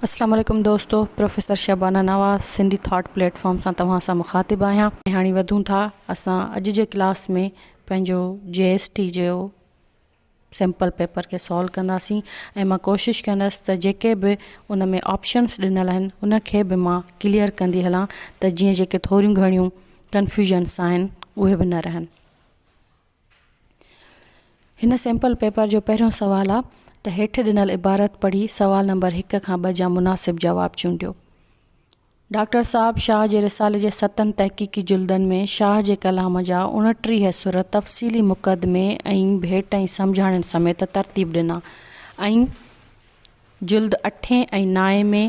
السلام عليڪم دوستو professor Shabana Nawaz Sindhi thought platform سان توهان سان مخاطب آهيان هاڻي وڌون ٿا اسان اڄ جي ڪلاس ۾ پنهنجو جي ايس ٽي جو سيمپل پيپر کي سالو ڪنداسين ۽ مان ڪوشش ڪندس ته جيڪي به ان ۾ آپشنس ڏنل آهن ان کي به مان ڪليئر ڪندي هلان ته جيئن جيڪي ٿوريون گهڻيون ڪنفيوژنس آهن اهي به نه رهن هن سيمپل پيپر جو پهريون سوال آ ته هيٺ ڏنل عبارت پڙهي سوال نمبر هڪ کان ٻه جا مناسب جواب چونڊيو. ڊاڪٽر صاحب شاهه جي رسالي جي ستن تحقيقي جلدن ۾ شاهه جي ڪلام جا اوڻٽيهه سر تفصيلي مقدمي ۽ ڀيٽ ۽ سمجهاڻين سميت ترتيب ڏنا ۽ جلد اٺين ۽ نائين ۾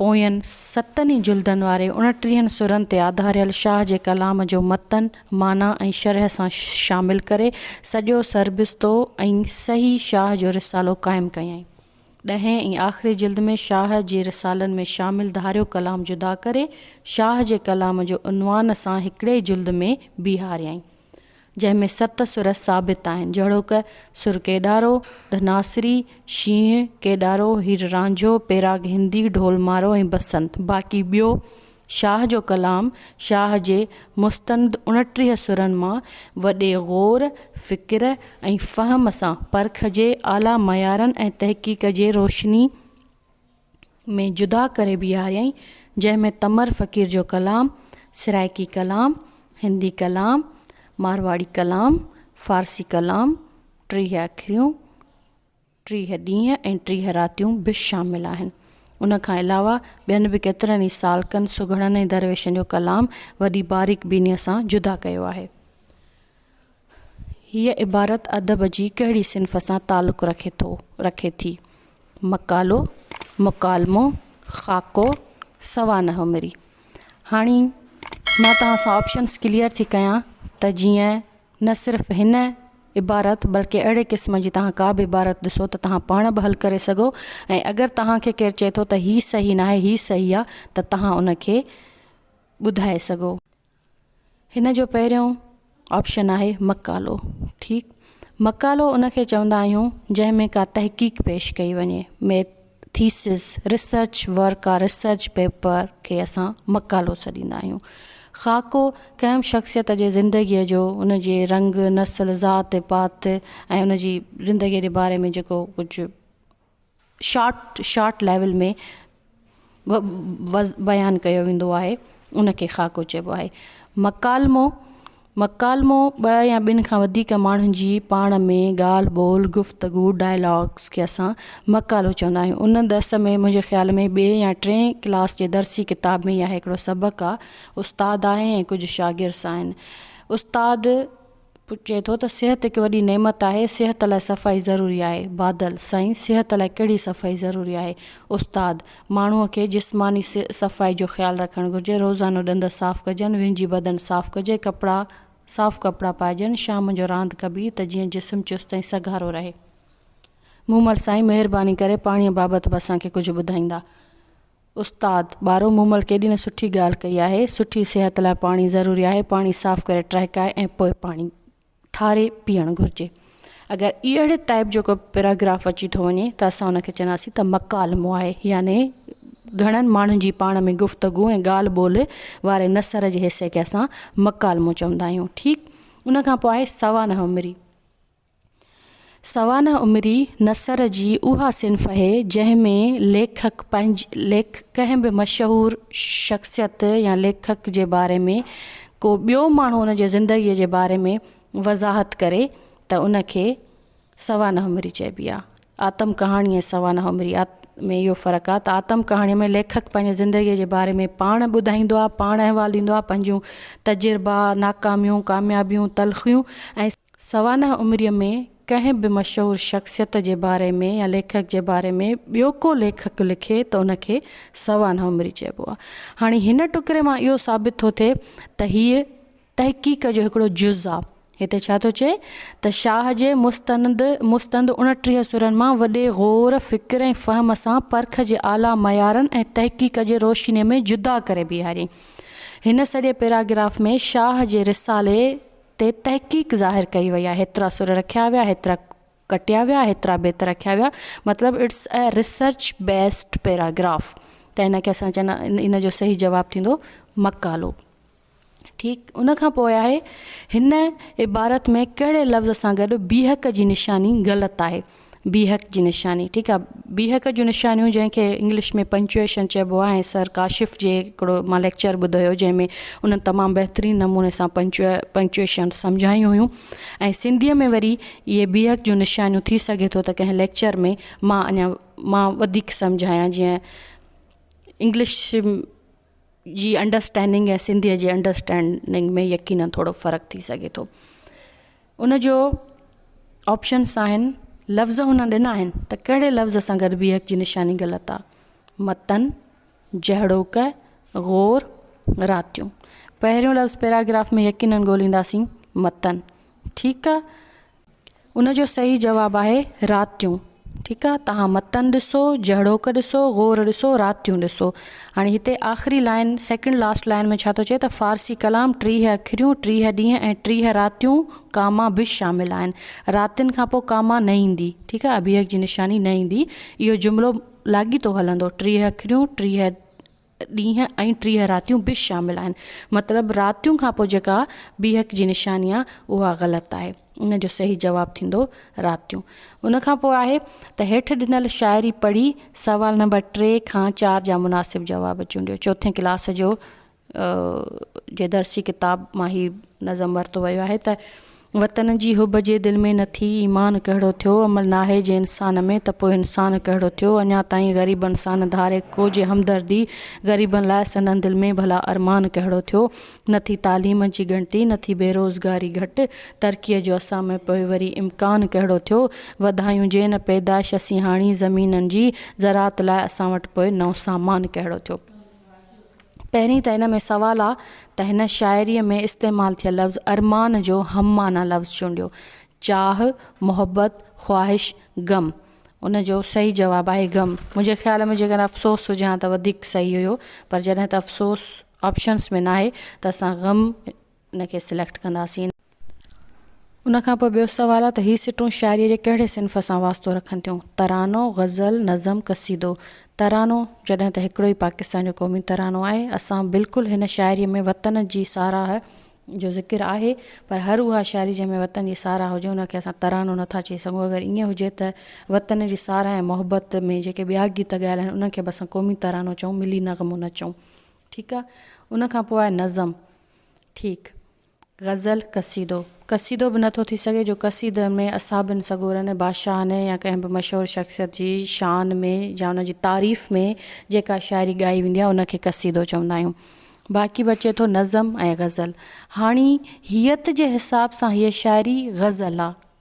پوين ستن ئي جلدن واري اڻٽيهن سرن تي آڌاريل شاهه جي ڪلام جو متن، معنيٰ ۽ شرح سان شامل ڪري، سڄو سربستو ۽ سهي شاهه جو رسالو قائم ڪيائين. ڏهين ۽ آخري جلد ۾ شاهه جي رسالن ۾ شامل ڌاريو ڪلام جدا ڪري، شاهه جي ڪلام جو عنوان سان هڪڙي جلد ۾ بيهاريائين. جنهن ۾ ست سر ثابت آهن، جهڙوڪ، سر ڪيڏارو، ڌناسري، شينهن، ڪيڏارو، هير رانجهو، پيراگ هندي، ڍول مارو ۽ بسنت. باقي ٻيو شاهه جو ڪلام شاهه جي مستند اڻٽيهه سرن مان وڏي غور، فڪر ۽ فهم سان پرکجي اعليٰ معيارن ۽ تحقيق جي روشني، ۾ جدا ڪري بيهاريائين، جنهن ۾ تمر فقير جو ڪلام، سرائڪي ڪلام، هندي ڪلام، مارواڙي ڪلام، فارسي ڪلام، ٽيهه اکريون، ٽيهه ڏينهن ۽ ٽيهه راتيون به شامل آهن. ان کان علاوه ٻين به ڪيترن ئي سالڪن، سگهڙن ۽ درويشن جو ڪلام وڏي باريڪ بينيء سان جدا ڪيو آهي. هيء عبارت ادب جي ڪهڙي صنف سان تعلق رکي ٿو، رکي ٿي؟ مقالو، مڪالمو، خاڪو، سوانح مري. هاڻي مان توهان سان آپشنز ڪليئر ٿي ڪيان ته جيئن نه صرف هن عبارت بلڪه اهڙي قسم جي توهان ڪا به عبارت ڏسو ته توهان پاڻ به حل ڪري سگهو ۽ اگر توهان کي ڪير چئي ٿو ته هي صحيح ناهي هي صحيح آ ته توهان ان کي ٻڌائي سگهو. هن جو پهريون آپشن آهي مقالو ٺيڪ مقالو ان کي چوندا آهيون جنهن ۾ ڪا تحقيق پيش ڪئي وڃي ميت ٿيسز ريسرچ ورڪ آ ريسرچ پيپر کي اسان مقالو سڏيندا آهيون خاڪو ڪنهن شخصيت جي زندگيء جو ان جي رنگ نسل ذات پات ۽ ان جي زندگيء جي باري ۾ جيڪو ڪجهه شارٽ شارٽ ليول ۾ بيان ڪيو ويندو آهي ان کي خاڪو چئبو آهي مڪالمو مڪالمو ٻه يا ٻن کان وڌيڪ ماڻهن جي پاڻ ۾ ڳالهه ٻولهه گفتگو ڊائلاگس کي اسان مڪالو چوندا آهيون ان درس ۾ منهنجي خيال ۾ ٻي يا ٽي ڪلاس جي درسي ڪتاب ۾ اها هڪڙو سبق آهي استاد آهي ۽ ڪجهه شاگرس آهن استاد پٽ چئي ٿو ته صحت هڪ وڏي نعمت آهي، صحت لاء صفائي ضروري آهي. بادل، سائين صحت لاء ڪهڙي صفائي ضروري آهي؟ استاد، ماڻهوء کي جسماني صفائي جو خيال رکڻ گهرجي، روزانو ڏند صاف ڪجن، وهنجي بدن صاف ڪجي، ڪپڙا صاف ڪپڙا پائجن، شام جو راند ڪبي ته جيئن جسم چست ۽ سگهارو رهي. مومل، سائين مهرباني ڪري پاڻيء بابت به اسان کي ڪجهه ٻڌائيندا؟ استاد ٻارو مومل ڪيڏي نه سٺي ڳالهه ڪئي آهي سٺي صحت لاء پاڻي ضروري آهي پاڻي صاف ڪري ٽهڪائي ۽ پوء پاڻي ٺاري پيئڻ گهرجي اگر اي اهڙي ٽائپ جو ڪو پيراگراف اچي ٿو وڃي ته اسان ان کي چونداسين ته مڪالمو آهي يعني گهڻن ماڻهن جي پاڻ ۾ گفتگو ۽ ڳالهه ٻولهه واري نثر جي حصي کي اسان مڪالمو چوندا آهيون ٺيڪ ان کان پوء آهي سوانح عمري سوانح عمري نثر جي اها صنف اهي جنهن ۾ ليکڪ ڪنهن به مشهور شخصيت يا ليکڪ جي باري ۾ ڪو ٻيو ماڻهو ان جي زندگي جي باري ۾ وضاحت ڪري ته ان کي سوانح عمري چئبي آهي. آتم ڪهاڻي ۽ سوانح عمري ۾ اهو فرق آهي ته آتم ڪهاڻي ۾ ليکڪ پنهنجي زندگيء جي باري ۾ پاڻ ٻڌائيندو آهي، پاڻ احوال ڏيندو آهي، پنهنجون تجربا، ناڪاميون، ڪاميابيون، تلخيون ۽. سوانح عمريء ۾ ڪنهن به مشهور شخصيت جي باري ۾ يا ليکڪ جي باري ۾ ٻيو ڪو ليکڪ لکي ته ان کي سوانح عمري چئبو آهي. هاڻي هن ٽڪري مان اهو ثابت ٿو ٿئي ته هيء تحقيق جو هڪڙو جز آ. هتي ڇا ٿو چئي ته شاهه جي مستند مستند اڻٽيهه سرن مان وڏي غور، فڪر ۽ فهم سان پرک جي اعليٰ معيارن ۽ تحقيق جي روشنيء ۾ جدا ڪري بيهاريائين. هن سڄي پيراگراف ۾ شاهه جي رسالي تي تحقيق ظاهر ڪئي وئي آهي، هيترا سر رکيا ويا، هيترا ڪٽيا ويا، هيترا بيت رکيا ويا، مطلب It's a Research Based Paragraph ته هن کي اسان چوندا ان جو صحيح جواب ٿيندو مقالو. ٺيڪ ان کان پوء آهي، هن عبارت ۾ ڪهڙي لفظ سان گڏ بيهڪ جي نشاني غلط آهي؟ بيهڪ جي نشاني ٺيڪ آهي، بيهڪ جون نشانيون جنهن کي انگلش ۾ Punctuation چئبو آهي ۽ سر ڪاشف جي هڪڙو مان ليڪچر ٻڌو هيو جنهن ۾ انهن تمام بهترين نموني سان Punctuation سمجهايون هيون ۽ سنڌيء ۾ وري اهي بيهڪ جون نشانيون ٿي سگهي ٿو ته ڪنهن ليڪچر ۾ مان اڃا مان وڌيڪ سمجهايان جيئن انگلش جي انڊرسٽينڊنگ ۽ سنڌيء جي انڊرسٽينڊنگ ۾ يقينن ٿورو فرق ٿي سگهي ٿو. ان جو آپشنس آهن، لفظ هن ڏنا آهن ته ڪهڙي لفظ سان گڏ بيهڪ جي نشاني غلط آ، متن، جهڙوڪ، غور، راتيون. پهريون لفظ پيراگراف ۾ يقينن ڳولينداسين، متن. ٺيڪ آ. ان جو صحيح جواب آهي راتيون ٺيڪ آ توهان متن ڏسو جهڙوڪ ڏسو غور ڏسو راتيون ڏسو هاڻي هتي آخري لائن سيڪنڊ لاسٽ لائن ۾ ڇا ٿو چئي ته فارسي ڪلام ٽيهه اکريون ٽيهه ڏينهن ۽ ٽيهه راتيون ڪاما به شامل آهن راتين کان پوء ڪاما نه ايندي ٺيڪ آ ابيهڪ جي نشاني نه ايندي اهو جملو لاڳيتو هلندو ٽيهه اکريون ٽيهه ڏينهن ۽ ٽيهه راتيون به شامل آهن. مطلب راتيون کان پوء جيڪا بيهڪ جي نشاني آهي اها غلط آهي. ان جو صحيح جواب ٿيندو راتيون. ان کان پوء آهي ته هيٺ ڏنل شاعري پڙهي سوال نمبر ٽي کان چار جا مناسب جواب چونڊيو. چوٿين ڪلاس جو جي درسي ڪتاب مان هي نظم ورتو ويو آهي ته. وطن جي حب جي دل ۾ نٿي ايمان ڪهڙو ٿيو عمل ناهي جي انسان ۾ ته پوء انسان ڪهڙو ٿيو اڃا تائين غريبن سان نه ڌاري ڪو جي همدردي غريبن لاء سندن دل ۾ ڀلا ارمان ڪهڙو ٿيو نٿي تعليم جي ڳڻتي نٿي بيروزگاري گهٽ ترقي جو اسان ۾ پوء وري امڪان ڪهڙو ٿيو وڌايون جي نه پيدائش اسين هاڻي زمينن جي زراعت لاء اسان وٽ پوء نئون سامان ڪهڙو ٿيو. پهرين ته ان ۾ سوال آ ته هن شاعريء ۾ استعمال ٿيل لفظ ارمان جو هم معنيٰ لفظ چونڊيو، چاهه، محبت، خواهش، غم. ان جو صحيح جواب آهي غم. منهنجي خيال ۾ جيڪڏهن افسوس هجي ها ته وڌيڪ صحيح هيو پر جڏهن ته افسوس آپشنس ۾ ناهي ته اسان غم ان کي سليڪٽ ڪنداسين. ان کان پوء ٻيو سوال آهي ته هي سٽون شاعريء جي ڪهڙي صنف سان واسطو رکن ٿيون؟ ترانو، غزل، نظم، قصيدو. ترانو، جڏهن ته هڪڙو ئي پاڪستان جو قومي ترانو آهي. اسان بلڪل هن شاعريء ۾ وطن جي ساراهه جو ذڪر آهي پر هر اها شاعري جنهن ۾ وطن جي ساراهه هجي ان کي اسان ترانو نه ٿا چئي سگهون. اگر ائين هجي ته وطن جي ساراهه ۽ محبت ۾ جيڪي ٻيا گيت ڳايل آهن انهن کي به اسان قومي ترانو چئون، ملي نغمو نه چئون. ٺيڪ آ ان کان پوء آهي نظم ٺيڪ غزل قصيدو قصيدو به نٿو ٿي سگهي جو قصيدن ۾ اصحابن سڳورن بادشاهن يا ڪنهن به مشهور شخصيت جي شان ۾ يا ان جي تعريف ۾ جيڪا شاعري ڳائي ويندي آهي ان کي قصيدو چوندا آهيون باقي بچي ٿو نظم ۽ غزل هاڻي هيئت جي حساب سان هيء شاعري غزل آ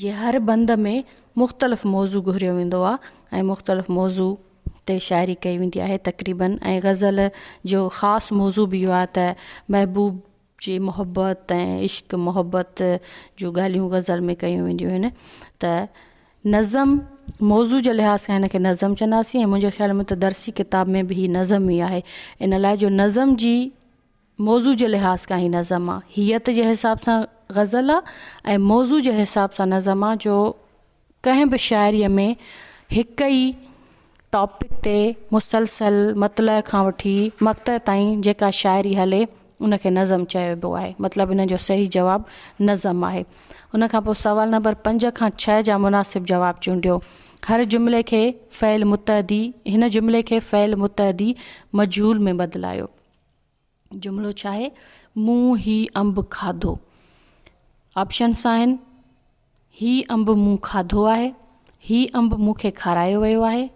جي هر بند ۾ مختلف موضوع گهريو ويندو آهي ۽ مختلف موضوع تي شاعري ڪئي ويندي آهي تقريبن ۽ غزل جو خاص موضوع به اهو آهي ته محبوب جي محبت ۽ عشق محبت جون ڳالهيون غزل ۾ ڪيون وينديون آهن ته نظم موضوع جي لحاظ سان هن کي نظم چونداسين ۽ منهنجي خيال ۾ ته درسي ڪتاب ۾ به هي نظم ئي آهي ان لاء جو نظم جي موضوع جي لحاظ کان هي نظم آ. هيئت جي حساب سان غزل آ ۽ موضوع جي حساب سان نظم آ جو ڪنهن به شاعريء ۾ هڪ ئي ٽاپڪ تي مسلسل مطلع کان وٺي مقطع تائين جيڪا شاعري هلي ان کي نظم چئبو آهي مطلب ان جو صحيح جواب نظم آهي. ان کان پوء سوال نمبر پنج کان ڇهه جا مناسب جواب چونڊيو. هر جملي کي فعل متعدي هن جملي کي فعل متعدي مجهول ۾ بدلايو. جملو ڇا آهي؟ مون هي انب کاڌو. آپشنس آهن، هي انب مون کاڌو آهي، هي انب مون کي کارايو ويو آهي،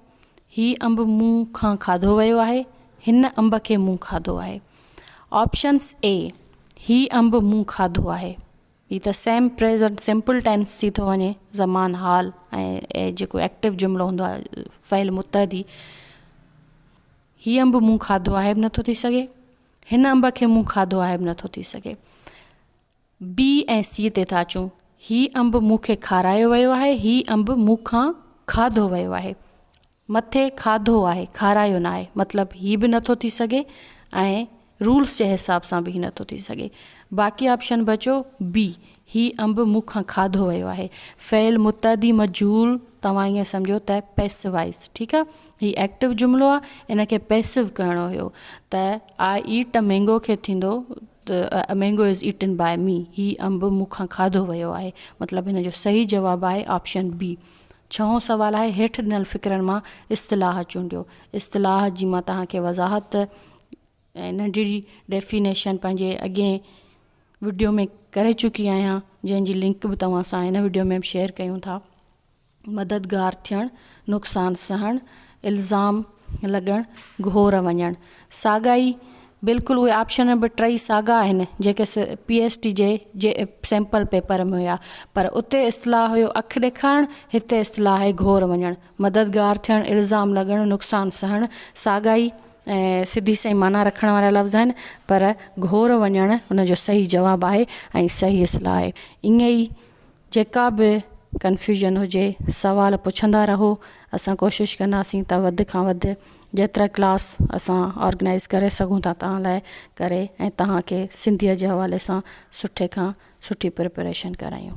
هي انب مون کان کاڌو ويو آهي، هن انب کي مون کاڌو آهي. آپشنس اي هي انب مون کاڌو آهي هي ته سيم پريزنٽ سمپل ٽينس ٿي ٿو وڃي زمان حال ۽ جيڪو ايڪٽو جملو هوندو آهي فعل متحدي هي انب مون کاڌو آهي به نٿو ٿي سگهي، هن انب کي مون کاڌو آهي به نٿو ٿي سگهي. بي ۽ سي تي ٿا اچون، هي انب مون کي کارايو ويو آهي، هي انب مون کان کاڌو ويو آهي. مٿي کاڌو آهي، کارايو ناهي، مطلب هي به نٿو ٿي سگهي ۽ رولس جي حساب سان به هي نٿو ٿي سگهي. باقي آپشن بچيو بي. هي انب مون کان کاڌو ويو آهي. فعل متعدي مجهول توهان ائين سمجهو ته پيسوائز ٺيڪ آ. هي ايڪٽو جملو آ ان کي پيسو ڪرڻو هيو ته آء ايٽ ا مينگو کي ٿيندو ته a mango is eaten by me هي انب مون کان کاڌو ويو آهي مطلب هن جو صحيح جواب آهي آپشن بي. ڇهون سوال آهي هيٺ ڏنل فقرن مان اصطلاح چونڊيو. اصطلاح جي مان توهان کي وضاحت ۽ ننڍڙي ڊيفينيشن پنهنجي اڳئين وڊيو ۾ ڪري چڪي آهيان جنهن جي لنڪ به توهان سان هن وڊيو ۾ شيئر ڪيون ٿا مددگار ٿيڻ نقصان سهڻ الزام لڳڻ گهور وڃڻ ساڳا ئي بلڪل اهي آپشن به ٽئي ساڳا آهن جيڪي پي ايس ٽي جي جي سيمپل پيپر ۾ هيا پر اتي اصطلاح هيو اک ڏيکارڻ هتي اصطلاح آهي گهور وڃڻ مددگار ٿيڻ، الزام لڳڻ، نقصان سهڻ ساڳا ئي ۽ سڌي سئي معنيٰ رکڻ وارا لفظ آهن، پر گهور وڃڻ ان جو صحيح جواب آهي ۽ صحيح اصلاح آهي. ائين ئي جيڪا به ڪنفيوزن هجي، سوال پڇندا رهو، اسان ڪوشش ڪنداسين ته وڌ کان وڌ جيترا ڪلاس اسان آرگنائيز ڪري سگهون ٿا توهان لاء ڪري ۽ توهان کي سنڌيء جي حوالي سان سٺي کان سٺي پريپريشن ڪرايون.